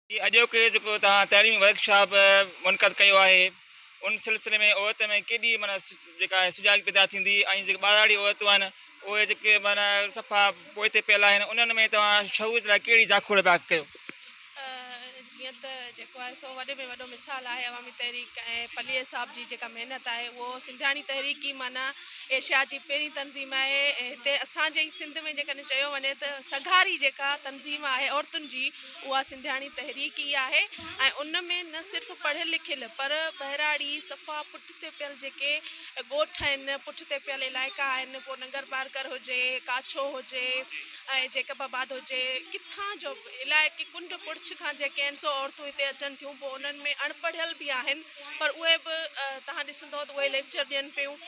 جي اڄوڪي جيڪو توهان تعليمي ورڪ شاپ منعقد ڪيو آهي ان سلسلي ۾ عورت ۾ ڪيڏي معنيٰ جيڪا آهي سجاڳي پيدا ٿيندي ۽ جيڪي ٻاراڙي عورتون آهن اهي جيڪي معنيٰ صفا پوئتي پيل آهن انهن ۾ توهان شعور لاء ڪهڙي جاکوڙ پيا ڪيو؟ جيئن ته جيڪو آهي سو وڏي ۾ وڏو مثال آهي عوامي تحريڪ ۽ پليجي صاحب جي جيڪا محنت آهي اهو سنڌياڻي تحريڪ ئي معنيٰ ايشيا جي پهرين تنظيم آهي هتي اسان جي سنڌ ۾ جيڪڏهن چيو وڃي ته سگهاري جيڪا تنظيم آهي عورتن جي اها سنڌياڻي تحريڪ ئي آهي ۽ ان ۾ نه صرف پڙهيل لکيل پر ٻهراڙي صفا پٺتي پيل جيڪي ڳوٺ آهن پٺتي پيل علائقا آهن پوء ننگر پارڪر هجي ڪاڇو هجي ۽ جيڪب آباد هجي ڪٿان جو به علائقي ڪنڊ پڙڇ کان جيڪي آهن سو عورتون هتي اچن ٿيون پوء انهن ۾ اڻ پڙهيل به آهن پر اهي به توهان ڏسندو ته اهي ليڪچر ڏين پيون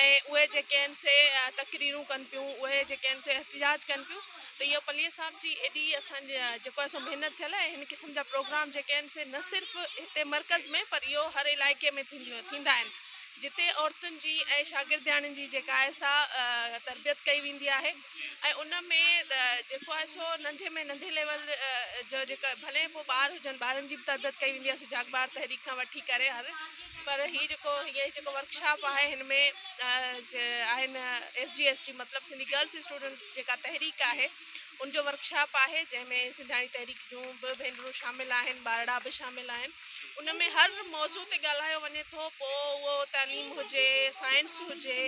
۽ اهي جيڪي آهن سي تقريرون ڪن پيون اهي جيڪي آهن سي احتجاج ڪن پيون ته اهو پليجي صاحب جي ايڏي اسان جي جيڪو اسان محنت ٿيل ۽ هن قسم جا پروگرام جيڪي آهن سي نه صرف هتي مرڪز ۾ پر اهو هر علائقي ۾ ٿينديون ٿيندا آهن جتي عورتن جي ۽ شاگردياڻين جي جيڪا آهي سا تربيت ڪئي ويندي آهي ۽ ان ۾ جيڪو آهي سو ننڍي ۾ ننڍي ليول جو جيڪا ڀلي پوء ٻار هجن ٻارن جي به تربيت ڪئي ويندي آهي سو جاگ ٻار تحريڪ کان وٺي ڪري هر پر هي جيڪو هي جيڪو ورڪشاپ آهي هن ۾ آهن ايس جي ايس ٽي مطلب سنڌي گرلس اسٽوڊنٽ جيڪا تحريڪ آهي ان جو ورڪشاپ آهي جنهن ۾ سنڌياڻي تحريڪ جون به ڀينرون شامل آهن ٻارڙا به شامل آهن ان ۾ هر موضوع تي ڳالهايو وڃي ٿو پوء اهو تعليم هجي سائنس هجي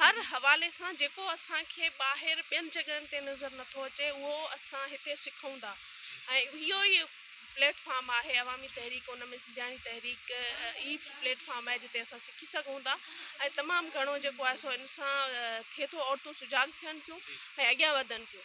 هر حوالي سان جيڪو اسانکي ٻاهر ٻين جڳهن تي نظر نٿو اچي اهو اسان هتي سکون ٿا ۽ اهو ئي پليٽ فارم آهي عوامي تحريڪ ان ۾ سنڌياڻي تحريڪ ئي پليٽ فارم آهي جتي اسان سکي سگهون ٿا ۽ تمام گهڻو جيڪو آهي سو ان سان ٿئي ٿو عورتون سجاڳ ٿين ٿيون ۽ اڳيان وڌن ٿيون